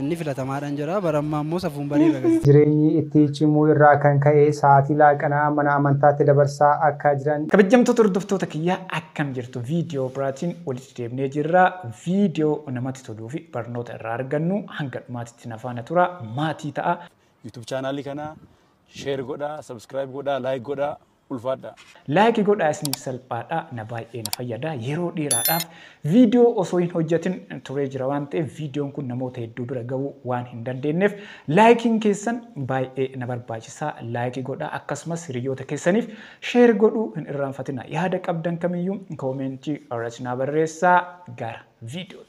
Inni filatamaadhan jedha. Bara ammaa immoo safuun bariirra gadi. Jireenyi itti cimuu irraa kan ka'e sa'aatii laaqanaa mana amantaatti dabarsaa akka jiran. Kabajjamtoota hordoftoota kiyyaa akkam jirtu video biraatiin walitti deebinee jirra video namatti toluu fi barnoota irraa argannu hanga dhumaatitti na faana tura maatii ta'a. YouTube channel kana share godhaa subscribe godhaa like godhaa. ulfaadhaa. Like godhaa isiniif salphaadha na baay'ee na fayyada yeroo dheeraadhaaf viidiyoo osoo hin hojjetin turee jira waan ta'eef viidiyoon kun namoota hedduu bira ga'uu waan hin dandeenyeef laayikiin keessan baay'ee na barbaachisa laayikii godhaa akkasumas hiriyoota keessaniif sheer godhuu hin irraanfatina yaada qabdan kamiyyuu koomeentii irratti na barreessaa gara viidiyootti.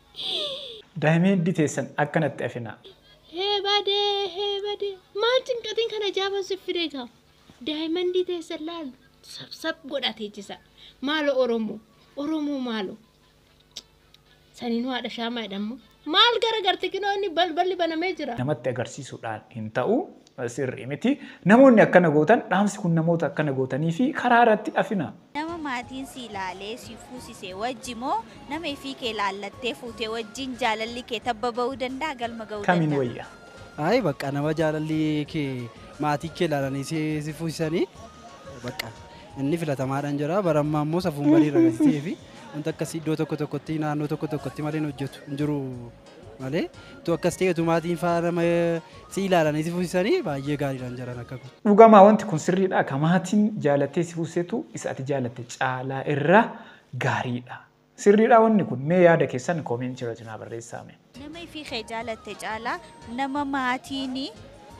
Daayimeendii teessan akka natti afinaa. Hee bade hee bade maal cinqatiin kan ajaaban sif fide egaa daayimandii teessan laal sabsab godhaa teechisa maalo oromoo oromoo maalo saninuu haadha shaamaa jedhamu maal gara garte kinoo inni balballi banamee jira. Namatti agarsiisuudhaan hin ta'u Sirrii miti. Namoonni akkana gootan dhaamsi kun namoota akkana gootanii fi karaa irratti dhafina. Nama maatiin si ilaalee si fuusise wajji moo nama ifii kee laallattee fuute wajjiin jaalalli kee tabba ba'uu danda'a galma ga'uu Kamiin danda'a? wayya? Ayi bakka nama jaalalli kee maatii kee ilaalanii si si fuusisanii bakka inni filatamaadhaan jira bara ammaa immoo safuun barii irra gadi ta'ee fi wanta akkasii iddoo tokko tokkotti naannoo tokko tokkotti malee hin hojjetu hin jiru. malee tu akkas ta'e tu maatiin faa nama si ilaalanii si fuusisanii baay'ee gaariidhaan jaran akka kun. Dhugamaa wanti kun sirriidha ka maatiin jaalattee si fuusisetu isa ati jaalatte caalaa irra gaariidha. Sirriidhaa wanni kun mee yaada keessan comment irrati naa barreessaa mee. Nama ifii kee jaalatte caalaa nama maatiin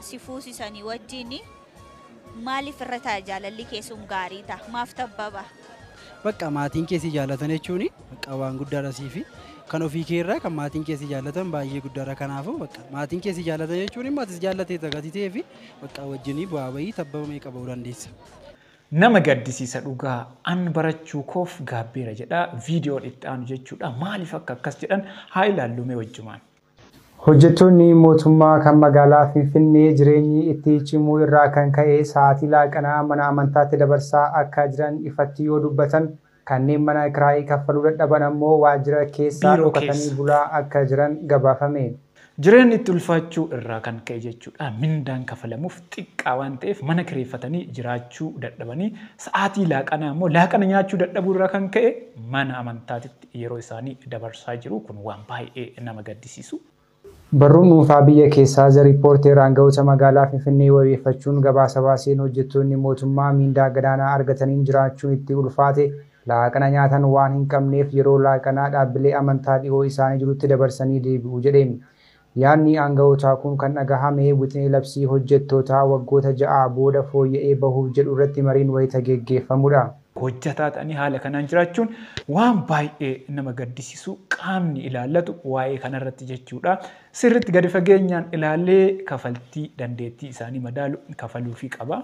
si fuusisanii wajjiin Maaliif irra ta'a jaalalli kee sun gaarii ta'a maaf tabbaba. Baqqa maatiin kee si jaallatan jechuun baqqa waan guddaadha siif kan ofii kee irraa kan maatiin kee si jaallatan baay'ee guddaadha kanaafuu baqqa maatiin kee si jaallatan jechuun immoo atis jaallatee tagati ta'ee fi baqqa wajjinii bu'aa bahii tabbaba meeqa ba'uu dandeessa. Nama gaddisiisa dhugaa an barachuu koof gaabbeera jedha videon itti aanu jechuudha maaliif akka akkas jedhan haa ilaallu mee wajjumaan. Hojjettoonni mootummaa kan magaalaa Finfinnee jireenyi itti cimuu irraa kan ka'e sa'aatii laaqanaa mana amantaatti dabarsaa akka jiran ifatti yoo dubbatan, kanneen mana kiraayii kaffaluu dadhaban ammoo waajjira keessa dhokatanii bulaa akka jiran gabaafame. Jireenyi itti ulfaachuu irraa kan ka'e jechuu dha. Mindaan kafalamuuf xiqqaa waan ta'eef mana kireeffatanii jiraachuu dadhabanii sa'aatii laaqanaa ammoo laaqana nyaachuu dadhabuu irraa kan ka'e mana amantaatitti yeroo isaanii dabarsaa jiru kun waan baay'ee nama gaddisiisu. Barruu dhuunfaa biyya keessaa The Reporter aanga'oota magaalaa Finfinnee wabeeffachuun gabaasa baaseen hojjettoonni mootummaa miindaa gadaanaa argataniin jiraachuun itti ulfaate laaqana nyaatan waan hin qabneef yeroo laaqanaa dhaabbilee amantaa dhihoo isaanii jirutti dabarsanii deebi'u jedhe. Yaadni aanga'ootaa kun kan dhagahame wixinee labsii hojjettootaa waggoota ja'aa booda fooyya'ee bahuuf jedhu irratti mariin wayita geggeeffamudha. Hojjetaa ta'anii haala kanaan jiraachuun waan baay'ee nama gaddisiisu qaamni ilaallatu waa'ee kanarratti jechuudha sirriitti gadi fageenyaan ilaalee kafaltii dandeettii isaanii madaalu kafaluufii qaba.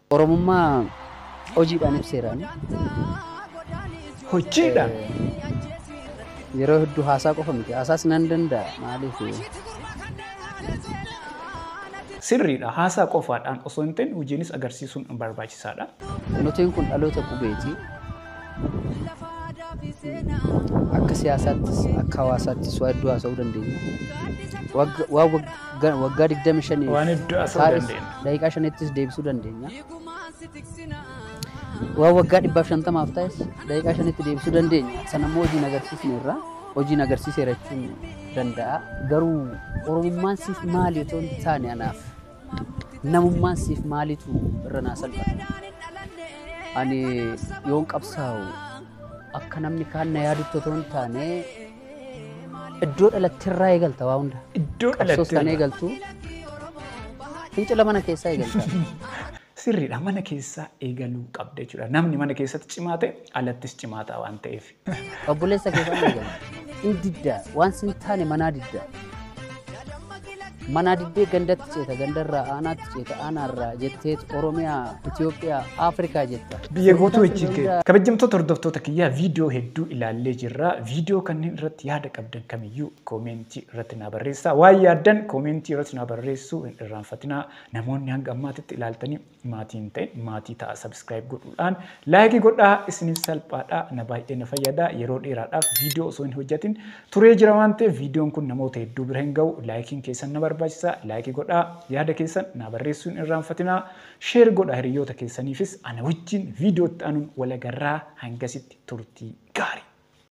Oromummaa hojiidhaan ibseeraan. Hojiidhaan? Yeroo hedduu haasaa qofa miti. Haasaas nan danda'a. Maaliif? Sirriidha. Haasaa qofaadhaan osoo hin ta'in hojiinis agarsiisuun barbaachisaadha. Noteen kun dhaloota qubeeti. Akka siyaasaattis akka hawaasaattis waa hedduu haasa'uu dandeenya. Wagga- Waan wagga- waggaa 25 Waan hedduu haasa'uu taa'es dandeenya. daqiiqaa shanittis deebisuu dandeenya. Waan waggaa 150f taa'es daqiiqaa shanitti deebisuu dandeenya. Sana immoo hojiin agarsiisneerra. Hojiin agarsiiseera jechuun danda'a. Garuu Oromummaan siif maali otoo hin taane anaaf. Namummaan siif maalitu irra naa salphata? Ani yoon qabsaa'u akka namni kaan na yaadutti otoo hin taane iddoo dhalatterraa eegalta waa hunda. Iddoo Qabsoos kan dhalatteerra. eegaltu fincila mana keessaa eegalta. Sirriidha mana keessaa eegaluu qabda jechuudha. Namni mana keessatti cimaa ta'e alattis cimaa ta'a waan ta'eef. Obboleessa kee kan eegamu. Hin didda. Waan sin taane manaa didda. Manaa diddee gandatti ceeta. Gandarraa aanaatti ceeta. Aanaarraa jetteet Oromiyaa, Itoophiyaa, Afrikaa jetta. Biyya guutuu ejjiite. Kabajamtoota hordoftoota kiyyaa viidiyoo hedduu ilaallee jirra. Viidiyoo kanneen irratti yaada qabdan kamiyyuu koomeentii irratti naa barreessaa. Waan yaaddan koomeentii irratti naa barreessuu hin irraanfatinaa. Namoonni hanga ammaatitti ilaaltanii Maatii hin ta'in maatii ta'a subscribe godhuudhaan like godhaa isiniif salphaadha na baay'ee na fayyada yeroo dheeraadhaaf viidiyoo osoo hin hojjetin turee jira waan ta'eef viidiyoon kun namoota hedduu bira hin ga'u laayikiin keessan na barbaachisa like godhaa yaada keessan naa barreessuun irraanfatinaa sheer godha hiriyoota keessaniifis ana wajjin viidiyootti anuun walagarraa hangasitti turtii gaarii.